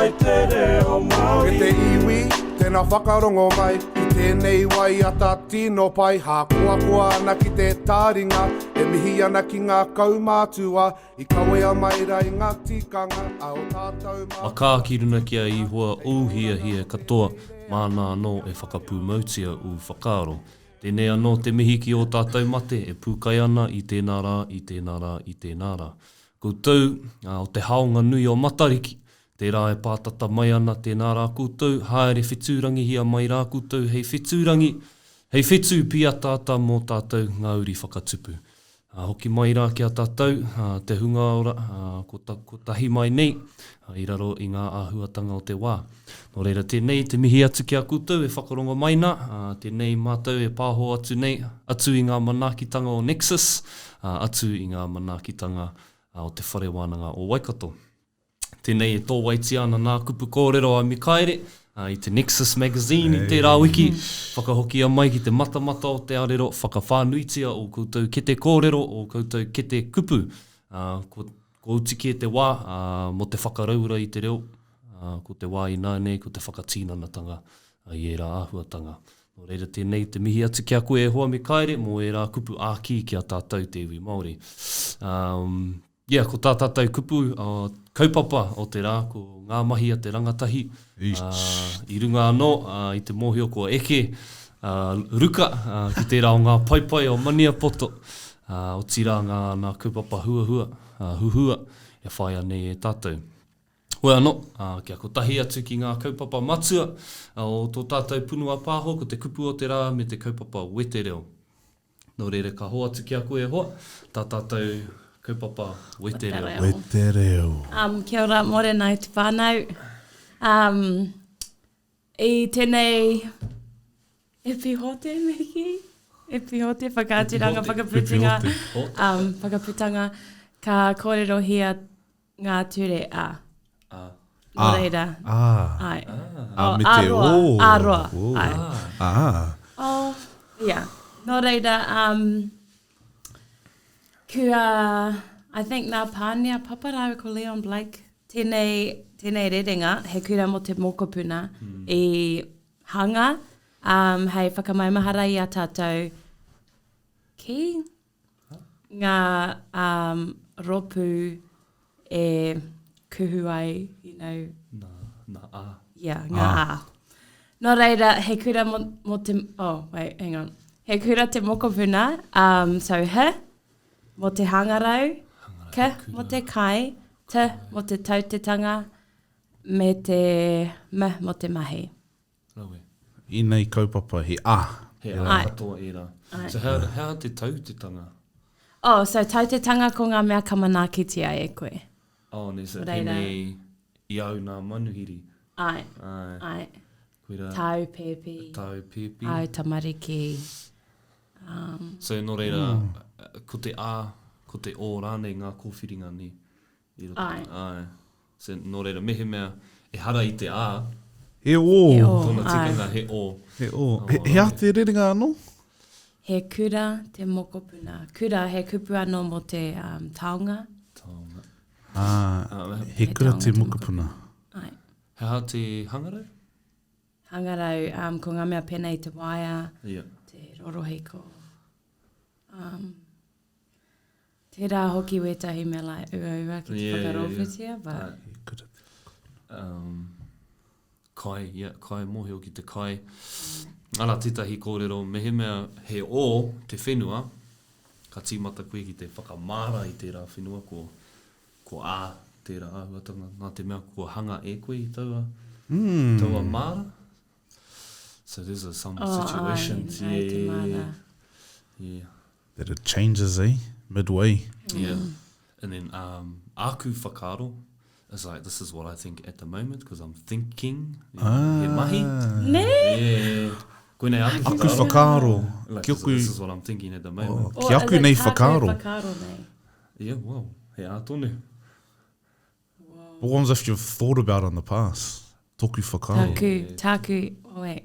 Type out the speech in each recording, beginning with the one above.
mai te reo Māori. E te iwi, tēnā whakarongo mai i tēnei waiata tino pai hākoakoa ana ki te tāringa e mihi ana ki ngā kaumātua i kawea mai ra i ngā tikanga a o tātou mā. Makā ki runa ki a Ihoa ou hiahia katoa, māna anō e whakapūmautia ū whakaaro. Tēnei anō te mihi ki ō tātou mate e pūkai ana i tēnā rā, i tēnā rā, i tēnā rā. Koutou, ā, o te haonga nui o Matariki, tērā e pātata mai ana, tēnā rā koutou, haere whetūrangihia mai rā koutou hei whetūrangi, hei whetū pīataata mō tātou ngā uri whakatupu. Ā, hoki mai rā ki a tātou, ā, te hunga ora, ā, ko, ko tahi mai nei, ā, i raro i ngā āhuatanga o te wā. Nō reira, tēnei te mihi atu ki a koutou e whakarongo mai nā, ā, tēnei mātou e pāho atu nei, atu i ngā manaakitanga o Nexus, ā, atu i ngā manaakitanga o Te Whare Wānanga o Waikato. Tēnei e tōwaitia ana nā kupu kōrero a Mikaere, ā, i te Nexus Magazine i tērā wiki, whakahokia mai ki te matamata o te arero, whakawhānuitia ō koutou kete kōrero, ō koutou kete kupu, ā, ko. Kua uti kē te wā mō te whakaraura i te reo, ko te wā ināianei ko te whakatīnanatanga i ērā āhuatanga. Nō reira tēnei te mihi atu ki a koe e hoa me Kaere mō ērā kupu ākī ki a tātou te iwi Māori. Ia, ko tā tātou kupu kaupapa o te rā ko ngā mahi a te rangatahi, I runga anō i te mōhio kua eke a Ruka ki tērā o ngā paepae o Maniapoto, otirā ngā nā kaupapa huahua, huhua e whaia nei e tātou. Hoi anō, kia kotahi atu ki ngā kaupapa matua o tō tātou punua pāho ko te kupu o te rā me te kaupapa wetereo. Nō reira ka hoatu ki a koe e hoa, tā tātou kaupapa wetereo. Wetereo. Um, kia ora, Morenai te whānau. Um, I tēnei e pihote meki, e pihote whakaaturanga, whakaputanga, um, whakaputanga, ka kōrerohia Ngā ture a. Nō reira. Ā. Āe. Ā, me te ō. Ā roa. Āe. Ā. Ā. Ia. Nō reira, kua, I think nā Pane a Papa rāua ko Leon Blake, tēnei, tēnei rerenga, He Kura mō te Mōkopuna, i hanga hei whakamaumahara i a tātou ki. ngā um, ropu e kuhu ai, you know. Nā, nā ā. Yeah, ngā ā. Ah. Nō reira, he kura mo, mo te... Oh, wait, hang on. He kura te mokopuna, um, so he, mo te hangarau, ke, mo te kai, te, mo te tautetanga, me te, me, mo te mahi. Rawe. I nei kaupapa he ah. He ah katoa era. So how how how te tau te tanga? Oh so tau te tanga ko nga mea ka manaakitia e koe. Oh ne so pene i au na manuhiri. Ae. Ae. Koira. Tau pepi. Tau pepi. Au tamariki. Um. So no reira ko te ah ko te oh ranei nga kowhiringa ne. I roto i te āe. So, nō reira, mehemea ehara i te ā. He ō. He ō, āe. Tōna tikanga he ō. He ō. He aha te rerenga anō? He kura te mokopuna. Kura, he kupu anō mō te taonga. Taonga. Ā, he kura te mokopuna. Āe. He aha te hangarau? Hangarau, ko ngā mea pēnei te waea, te rorohiko. Tērā hoki wētahi mea lai uaua ki te yeah, whakarōpūtia, yeah, yeah. but... Uh, could it be um, kai, yeah, kai, mōhio ki te kai. Ara, tētahi kōrero, mehemea he o te whenua, ka tīmata koe ki te whakamāra i tērā whenua, ko, ko a tērā āhuatanga, nā te mea kua hanga e koe i taua, mm. taua māra. So there's a, some oh, situations, ai, yeah, ai te māra. Yeah. That it changes eh, midway. Yeah, and then um, āku whakaaro is like, this is what I think at the moment, because I'm thinking, ah. he mahi. Nē? Yeah. Koinei āku whakaaro. Aku whakaaro. Like, ki oku... This is what I'm thinking at the oh, moment. Oh, ki aku nei whakaaro. whakaaro nei. Yeah, well, he ā tonu. What ones if you've thought about in the past? Toku whakaaro. Tāku, tāku, wait.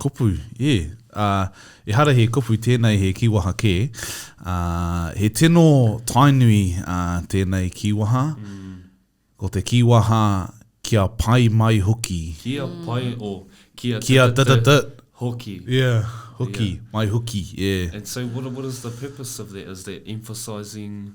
Kupu, e! Ā, ehara he kupu tēnei he kīwaha kē, ā, he tino Tainui tēnei kīwaha, ko te kīwaha kia pai mai hoki. Kia pai, or kia da-da-da-da-da hoki. Yeah, hoki, mai hoki, yeah. And so what is the purpose of that? Is that emphasising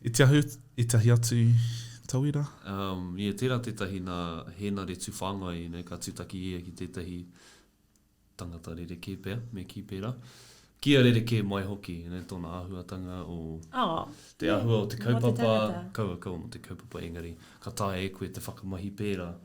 I te ahu etahi atu tauira? Um, yeah, tera tetahi na Henare Tuwhangai, you know, ka tutaki ia ki tetahi tangata rerekē pea, me kī pērā. Kia rerekē mai hoki, you know, tona ahuatanga o oh, te yeah, ahua o te kaupapa, kaua kaua mo te kaupapa engari, ka taea e koe te whakamahi pērā.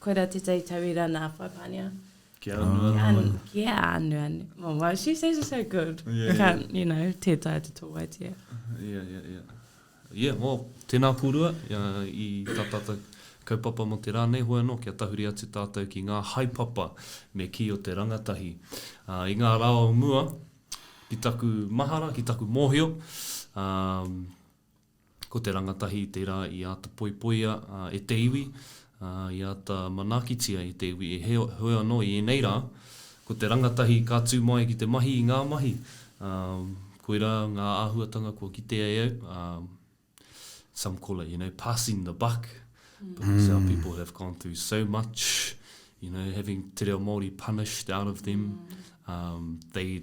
Koira tētahi tauira nā Whaipania. Kia anu anu mai. Kia anu anu. Oh, well, she says it so good. Yeah, I can't, yeah. you know, tē tae te tō waitia. Yeah, yeah, yeah. Yeah, well, tēnā kōrua uh, i tā tātou kaupapa mō te rā nei hoa anō kia tahuri atu tātou ki ngā haepapa me kī o te rangatahi. Uh, I ngā rā o mua, ki taku mahara, ki taku mōhio, um, Ko te rangatahi tērā i āta poipoia e te iwi, ā, i āta manaakitia e te iwi. Heoi anō, i ēnei rā, ko te rangatahi ka tū mai ki te mahi i ngā mahi, ā, koirā ngā āhuatanga kua kitea e au, ā, some call it, you know, passing the buck, because our people have gone through so much, you know, having te reo Māori punished out of them, ā, they,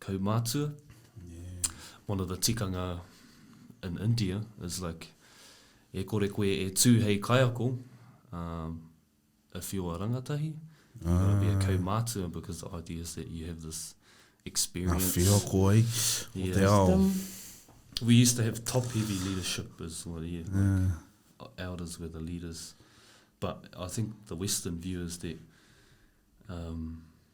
kaumatua. One of the tikanga in India is like, e kore koe e tū hei kaiako, um, if you're a rangatahi, ah. you've got to be a kaumatua because the idea is that you have this experience. Nga whio koe, yeah. o te ao. We used to have top heavy leadership as well, yeah. yeah. Like, elders were the leaders. But I think the Western view is that um,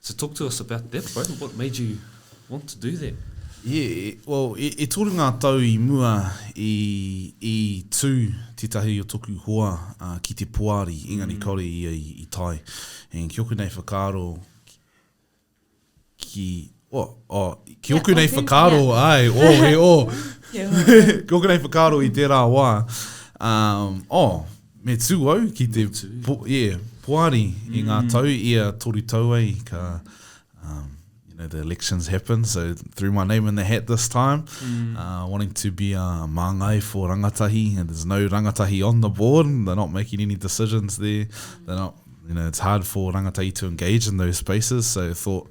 So talk to us about that, bro. What made you want to do that? Yeah, well, e, e toru ngā tau i mua i, i tū tētahi o toku hoa uh, ki te poari, engari mm. kaore ia i, i tai. And ki oku nei whakaaro, ki, Oh, oh, ki oku nei whakaaro, ai, oh, he oh. ki oku nei whakaaro i tērā wā, um, oh, me tū au ki te po, yeah, poari mm. i ngā mm. tau i a toru tau ai ka um, you know the elections happen so threw my name in the hat this time mm. uh, wanting to be a uh, māngai for rangatahi and there's no rangatahi on the board they're not making any decisions there they're not you know it's hard for rangatahi to engage in those spaces so I thought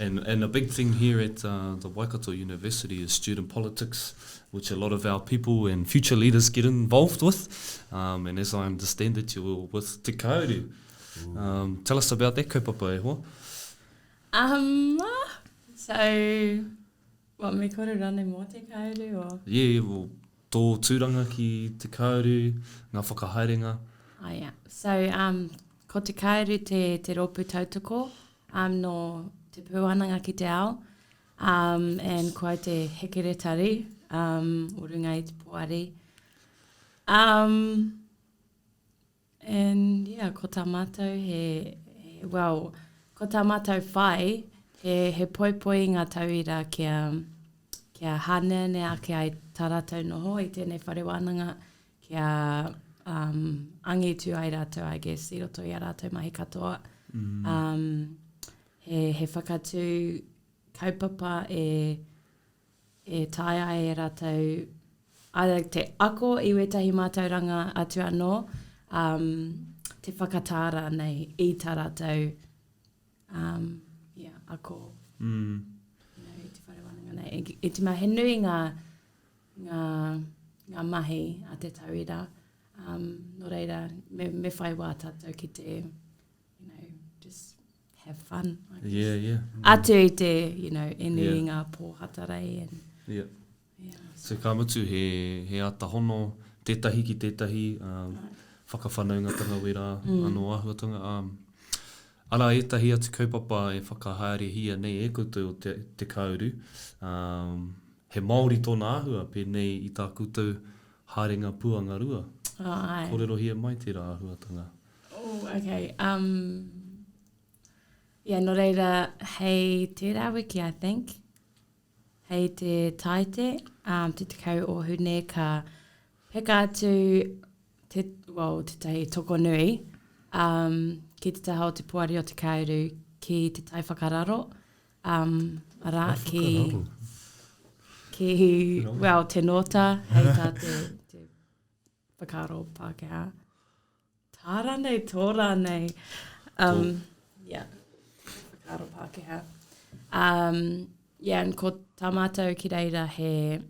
And and a big thing here at uh, the Waikato University is student politics, which a lot of our people and future leaders get involved with. Um, and as I understand it, you were with Te Kauri. Um, tell us about that kaupapa, e hoa. Um, so, what, me kore rane mō Te Kauri? Or? Yeah, well, tō tūranga ki Te Kauri, ngā whakahaerenga. Oh, yeah. So, um, ko Te Kauri te, te rōpū tautoko, I'm no Te Pūananga ki te Ao um and ko au te Hekeretari um o runga i te Poari um and yeah ko ta matou he well ko ta matou whai he he poipoi i nga tauira kia kia haneanea ake ai ta ratou noho i tenei whare wananga kia um, angitu ai rātou, I guess, i roto i a rātou mahi katoa. Mm. Um, he, he whakatū kaupapa e, e tae ai e rātou, ara te ako i wētahi mātauranga atu anō, um, te whakatāra nei i tā rātou um, yeah, ako. Mm. You know, i te whare wānanga nei. E, e tima, he nui ngā, ngā, ngā mahi a te tauira, um, nō reira, me, me whai wā tātou ki te, you know, just have fun, I guess. Yeah, yeah. Mm. Atu i te, you know, e nui yeah. ngā pōhatarei. And, yeah. yeah so. so ka mutu he, he ata hono, tētahi ki tētahi, um, right. whakawhanaungatanga wera, mm. anō ahuatanga, um, Ara ētahi atu kaupapa e whakahaerehia nei e koutou o te, te kāuru, um, He Māori tōna āhua, pēnei i tā koutou haerenga puanga rua. Oh, āe. Kōrerohia mai tērā āhuatanga. Oh, okay. Um, yeah, nō reira, hei tērā wiki, I think, hei te Taite, um, te tekau o Hune, ka peka atu te, well, te tahi toko nui um, ki te taha o te Poari o Te Kāuru ki te tai whakararo. Um, arā, ki, ki well, te nota, hei tā te, te whakaro Pākehā. Tā rānei, tō rānei. Um, yeah, whakaro Pākehā. Um, yeah, and ko tā mātou ki reira he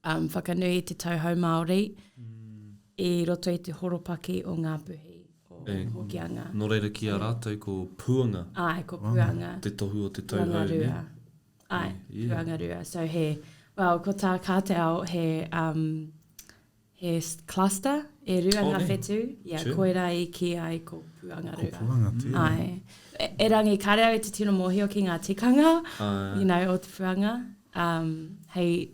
um, whakanui i te tauhou Māori mm. i roto i te horopaki o Ngā Puhi o e, Hokianga. Nō reira ki a rātou ko Puanga. Ai, ko Puanga. Te tohu o te tauhou. Puanga Rua. Ne? Ai, yeah. Puanga Rua. So he, well, ko tā Kāteao he, um, He cluster, e rua nga whetu, ia koira i ki ai ko Puangarura. Ko Puanga tena. Ai. Erangi, kare au i te tino mohio ki nga tikanga, you know, o te Puanga. Um, hei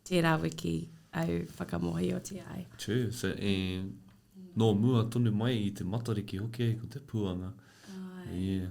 tera wiki au whakamohiotia ai. True, so e, no mua tonu mai i te Matariki hoki ai ko te Puanga. Ai. Yeah.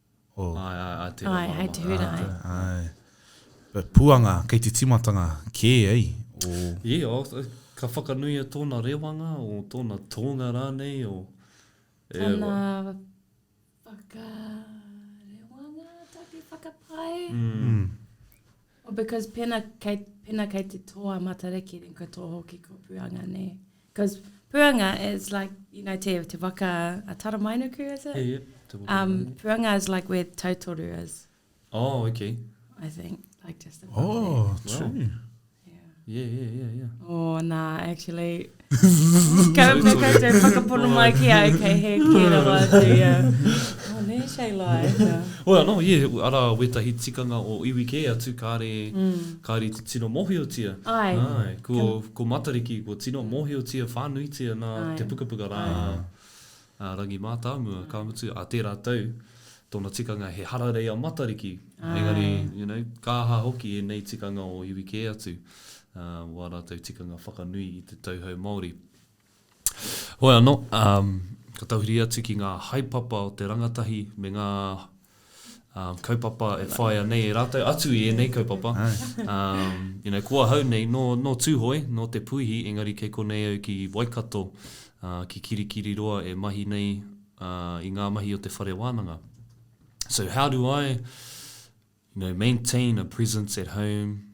Oh. Ai, ai, ai te rama rama. Ai, ai te hura, ai. Ai. But puanga, kei te timatanga kē, ei? O... Yeah, o, ka whakanuia tōna rewanga, o tōna tōnga rānei, o... Tana whakarewanga, taku whakapae. Mm. Oh because pena kei, pena kei te tō a Matariki then kua tō hoki ko Puanga nē. Because Puanga is like, you know, te, te waka a Taramainuku, is it? Yeah, yeah. Um, Puanga is like where Tautoru is. Oh, okay. I think, like just above oh, there. Oh, true. Wow. Yeah, yeah, yeah, yeah. Oh, nā, actually, ka me koutou whakapono mai ki au, kei he kē rawa atu, yeah. Oh, nē, Shay Lai, yeah. Oi anō, yeah, arā wētahi tikanga o iwi kē atu kāre, kāre i te tino mōhiotia. Ai. Ai, ko, ko Matariki, ko tino mōhiotia whānuitia nā te pukapuka rā. A Rangi Mātāmua, ka mutu, a tērā tau, tōna tikanga he hararei a Matariki, engari, you know, ka aha hoki ēnei tikanga o iwi kē atu, wā rātou tikanga whakanui i te tauhou Māori. Hoi anō, ka tahuri atu ki ngā haepapa o te rangatahi me ngā. kaupapa e whaia nei e ratou, atu i enei kaupapa, you know, ko ahau nei, no, no Tuhoe, no Te Puihi, engari kei konei au ki Waikato, ki Kirikiriroa e mahi nei i nga mahi o te whare wananga. So how do I, you know, maintain a presence at home,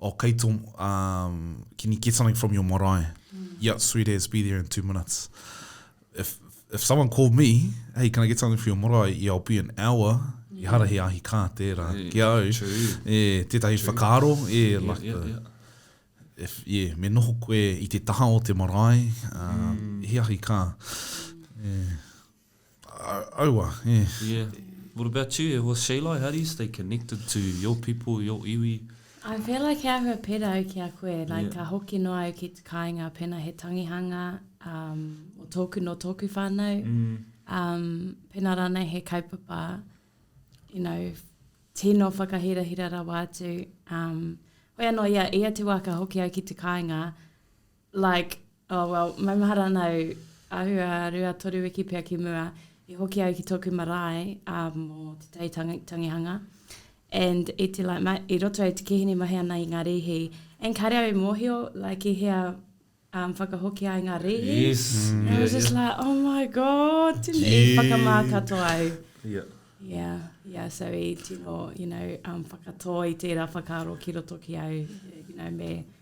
Oh kei to um, can you get something from your marae? Mm. Yep, sweet as, be there in two minutes. If, if someone called me, hey, can I get something for your marae? Yeah, I'll be an hour. Yeah. Ehara he ahi kā tērā. Yeah. Ki au, True. e, tētahi True. whakaaro, e, yeah, like yeah, the, yeah. If, yeah, me noho koe i te taha o te marae, uh, mm. he ahi kā. Yeah. Aua, e. Yeah. What about you, e hoa Sheila, how do you stay connected to your people, your iwi? I feel like he ahua pera au ki a koe, like yeah. ka hoki noa au ki te kāinga pena he tangihanga, um, o tōku no tōku whānau, mm. um, pena rānei he kaupapa, you know, tino whakahirahira rawa atu. Um, hoi anō, ia, ia te wā ka hoki au ki te kāinga, Like, oh well, maumahara ana au, āhua rua toru wiki pea ki mua, i hoki au ki tōku marae ā mō Te Tai Tangihanga, and i te like ma, i roto au te kihini mahi ana i ngā rīhi, and kāre au i mōhio, like i hea um, whakahoki ai ngā rīhi. Yes. And yeah, I was just yeah. like, oh my god, tino, yeah. i whakamā katoa au. Yeah. Yeah, yeah, so i tino, you know, um, whakatō i tērā whakaaro ki roto ki au, you know, me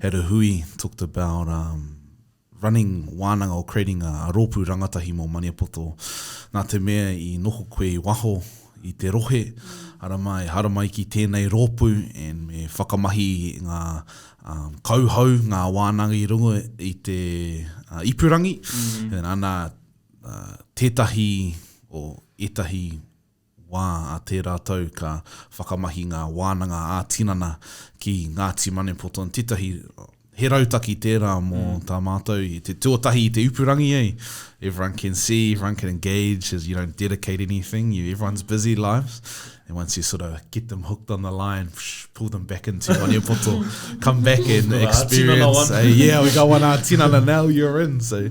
had a hui, talked about um, running wānanga or creating a, a rōpū rangatahi mō Maniapoto. Nā te mea i noho koe i waho i te rohe, ara mai, haramai ki tēnei rōpū and me whakamahi ngā um, kauhau, ngā wānanga i runga i te uh, ipurangi. Mm. And ana uh, tētahi o etahi wā a tērā tau ka whakamahi ngā wānanga ā-tinana ki Ngāti Manepoto in tētahi He rautaki tērā mō tā mātou i te tuatahi i te ipurangi ei Everyone can see, everyone can engage as you don't dedicate anything, you everyone's busy lives and once you sort of get them hooked on the line, pull them back into Manepoto come back and experience, yeah, we got one ā-tinana now, you're in, so.